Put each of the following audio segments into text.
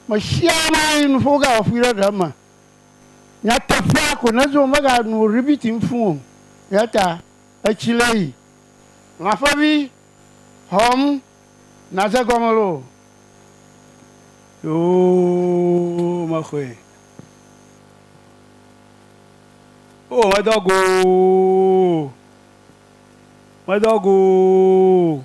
Mesia nayi nuƒo wogawɔƒui ɖe ɖe me. Nyateƒea ko nedzo womeganu ribiti ŋfũ o. Eyata etsi le yi. Lãƒevi, hɔm nàdze gɔme loo. Yoo mexɔe. Oo medɔ go oo. Medɔ go oo.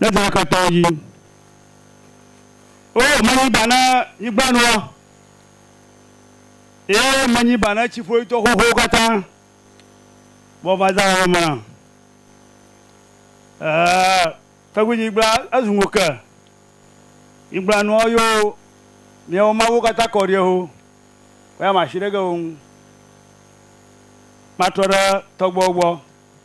ne dɔ eke tɔwo dzi. O menyi ba ne nyigbanuɔ, ye menyi ba ne tsiƒoyitɔ xoxowo katã, vɔ va zã ame mlã. Ɛɛ, tɔgbuinyigba ezu ŋo ke, nyigbanuɔ yo miawo mawuwo katã kɔ ɖiɛ ho, woya mashi ɖe ge wo ŋu, matrɔ ɖe tɔgbuiawo gbɔ.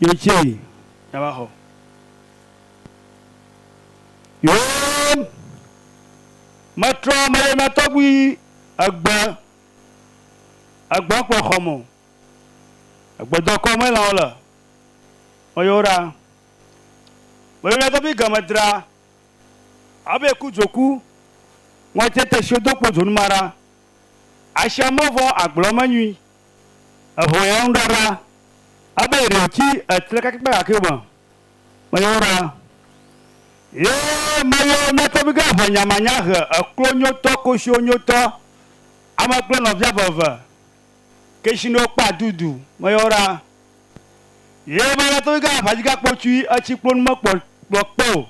Yo tse yi ya va xɔ. Yo me trɔ me ye ma tɔgbi egbe egbe kpɔ xɔ mo. Egbe dɔ kɔ me la ole. Me yo ra. Me yo na tɔgbi ge me dra. Abe ku dzoku. Ŋɔ tse te sio do kpo dzonu ma ra. Asia mɔ vɔ agblɔ me nyui. Eho ya ŋɖa ɖa, abe ɖe wòtsi etre kakɛkpe gake me meyɔ ɖa. Ye meyɔ nyateƒigã eve nyamanya he eklo nyotɔ koshiwo nyotɔ ame kple nɔvia veve keshinewo kpe adudu meyɔ ɖa. Ye meyɔ nyateƒigã avadzigã kpotsui etsi kplonu me kpɔ kplɔ kpe o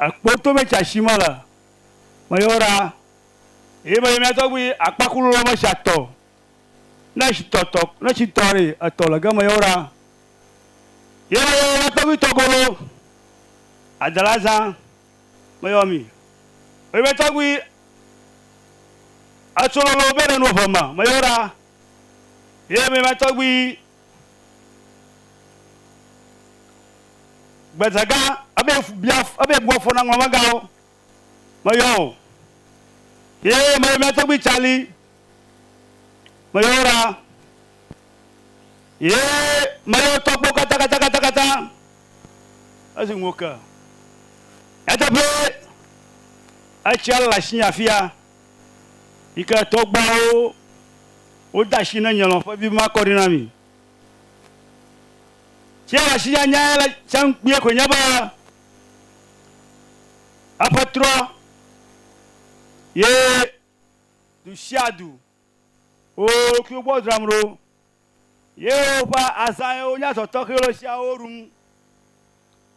ekpo to me tsi ashi mele meyɔ ɖa. Eye menye mía tɔgbi akpakulu lɔ me sia tɔ, ne etsitɔ tɔ, ne etsitɔ ɖi etɔ le geme yeo ɖa. Ye me yɔ mía tɔgbi tɔ golo adela zã me yɔ mi. Eye mía tɔgbi etso lolo be ɖe nu eve me me yeo ɖa. Eye menye mía tɔgbi gbedzegã ebe bia ebe bua fɔ na ŋlɔmegãwo Meyɔ wò. Ye meyɔ mía tɔgbui Tsali. Meyɔ wo ɖa. Ye meyɔ tɔkpo katãkatãkatãkatã. Esi ŋu ke. Nyateƒee, etsia le asinye afia yi ke tɔgbuawo wode asi ne nye lɔ̃ƒe vi makɔ ɖi na mi. Tsia le asinye anyae le tsã kpuie koe nye be Eƒe trɔ ye dusiadu wo ɖokuiwo gbɔ dzram ɖo, ye woƒe azã ye wonya zɔ tɔxɛwo le tsiawo ɖum.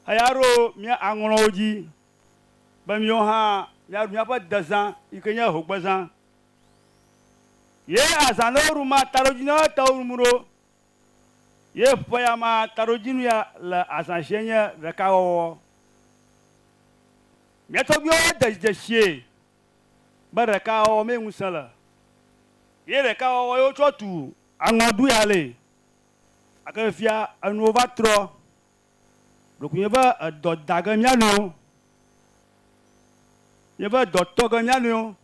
Eya ɖo mía aŋlɔ wo dzi, be míwo hã míaɖu míaƒe dezã yi ke nye hogbezã. Ye azã ɖe woɖu ma taɖodzi na wo etawo ɖum ɖo. Ye ƒe ya ma taɖodzinu ya le azã sie nye ɖekawɔwɔ. Mía tɔgbuiwo de dzidesie be ɖekawɔwɔ mee ŋusẽ le. Ye ɖekawɔwɔ ye wotsɔ tu aŋɔɖuihalẽe. Gake fifia enuwo va trɔ. Ɖeko míeve edɔ da ge mía nɔewo. Míeve edɔ tɔ ge mía nɔewo.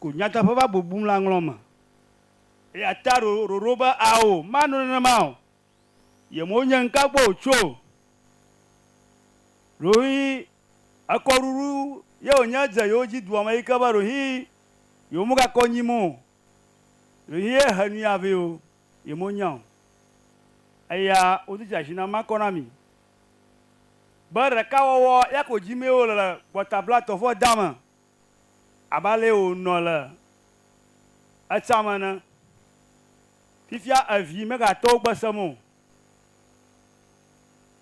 ko nyateƒe va bubum le aŋlɔ me. Eya ta ɖo ɖoɖo be, Ao, mano nenema o. Yemewo nye ŋka gbɔ o tso o. Ɖohĩ ekɔɖuɖu ye wònye dze yewo dzi dua me yi ke be ɖohĩ yewomegakɔ nyim o. Ɖohĩ ye he nui avee o, yemenya o. Eya wodo dzi ashi na makɔ na mi be ɖekawɔwɔ ya ko dim ye wole le gbɔtablatɔfoɔdea me. abe alee wònɔ le etsã me ene. Fifia evi megate wo gbe sem o.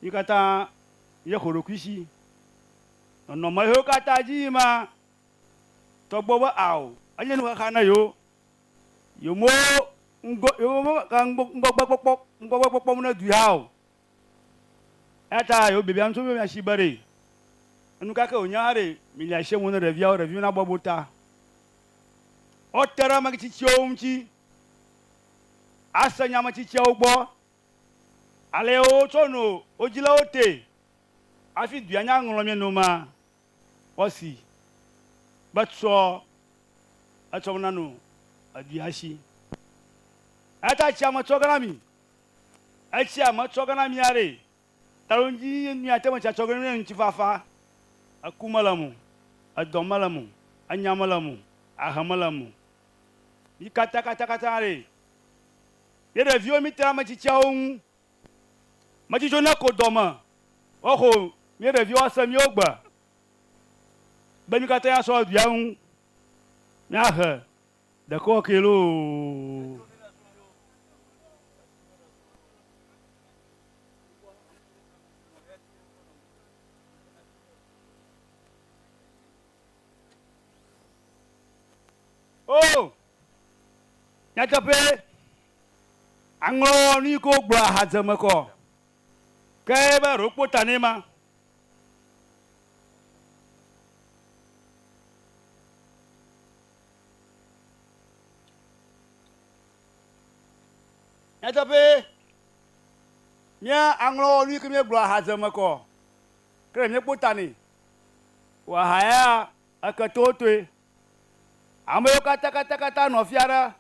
Mí katã míexɔ ɖokuishi. Nɔnɔme hewo katã dzi yim ma, tɔgbe be ao, enye nuxaxa na yewo. Yemewo ŋgɔ, yewo me, ka ŋgɔ, ŋgɔgbe kpɔkpɔ, ŋgɔgbe kpɔkpɔ me nedui hã o. Eya ta yewo biabia nu tso mía shi be ɖe enu ka ke wònye aɖe mi le ashe ŋu ne ɖeviawo ɖeviwo na bɔbɔ ta. Wo te ɖe ame tsitsiawo ŋuti ase nya ame tsitsiawo gbɔ, ale ye wo tsɔ no wo dzilawo te afi dua nya ŋlɔ mie no ma kpɔ si be tsɔ etsɔ mena no edua shi. Eya ta tsia me tsɔ gana mi. Etsia metsɔ ge na mí aɖee. Taɖodzinyi míate ŋu tsa tsɔ ge nye ŋutifafa. Eku mele eme o, edɔ mele eme o, enya mele eme o, ahe mele eme o. Mí katã katakata aɖee. Mí ɖeviwo míte ɖe ame tsitsiawo ŋu. Metsi tso ne ko dɔme woaxo mí ɖeviwo ase míwo gbe be mí katã míasɔ aɖu ya ŋu míahe. Ɖekɔ ke loo. O! Nyateƒee, aŋlɔ nu yi ke wogblɔ ahadze eme kɔ, ke be aɖo wokpɔ ta nɛ ma. Nyateƒee, mía aŋlɔ nu yi ke míegblɔ ahaze me kɔ, ke ɖe míekpɔ ta nɛ o aha ya eke totoe. Ame yiwo katakataŋ nɔ fia ɖe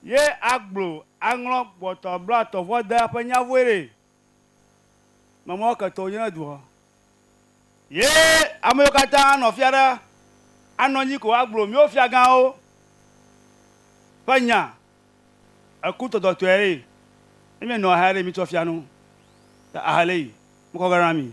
ye agblɔ aŋlɔ gbɔtɔ blatɔ vɔ de eƒe nya vɔe ɖee. Mama ke tɔ nyina dua. Ye amewo katã anɔ fia ɖe, anɔ anyi ko agblɔ míwo fiagãwo ƒe nya. Eku tɔtɔtɔe ɖe, ne míenɔ ahe ɖe mítsɔ fia nu ta ahe le yi mekɔ ge na mí.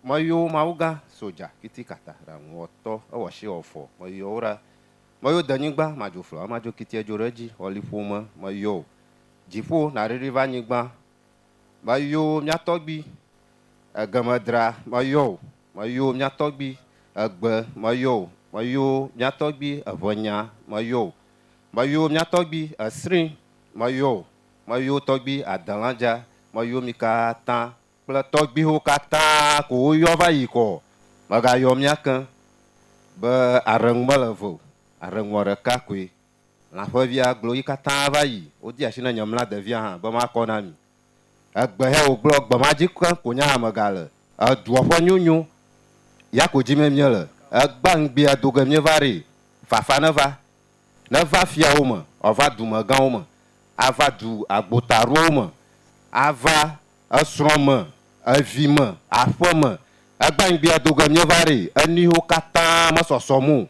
Meyɔ mawugã sodja kiti kata ɖaŋu wɔtɔ ewɔ shi wɔ fɔ meyɔ wo ɖa meyɔ denyigba madzo flɔ emadzo kiti edzo ɖe edji wɔ liƒo me meyɔ o dziƒo naɖiɖi va nyigba meyɔ miatɔgbi egeme dra meyɔ o meyɔ miatɔgbi egbe meyɔ o meyɔ miatɔgbi eʋenya meyɔ o meyɔ miatɔgbi esrin meyɔ o meyɔ tɔgbi adelandja meyɔ mikatã kple tɔgbiwo katã ko woyɔ va yi kɔ o, megayɔ mía ke be aɖeŋu mele eve o, aɖeŋua ɖeka koe. Lã ƒevia gblɔ yi katã va yi, wodi asi ne nye mla devia hã be makɔ na mi. Egbehɛ wògblɔ gbe ma dzi keŋ ko nye hã megale. Edua ƒe nyonyo ya ko dzime míele, egbea ŋgbea do ge míeva ɖee. Fafa neva, neva fiawo me, wòava dumegãwo me, ava du agbotaɖowo me, ava esrɔ̃ me, evi me, aƒe me, egbãnyigbia do ge míeva ɖi, enuiwo katã mesɔsɔm o,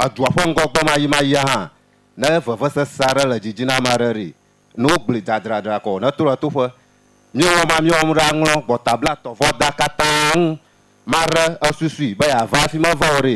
edua ƒe ŋgɔgbemayimaya hã. Ne vevesese aɖe le didi na ame aɖe ɖi, ne wogblẽe dzadzraɖra ko ne to le toƒe. Míewɔ ma míewɔm ɖe aŋlɔ gbɔtablatɔvɔda katã ŋu. Maɖe esusui be yeava afi meva o ɖe.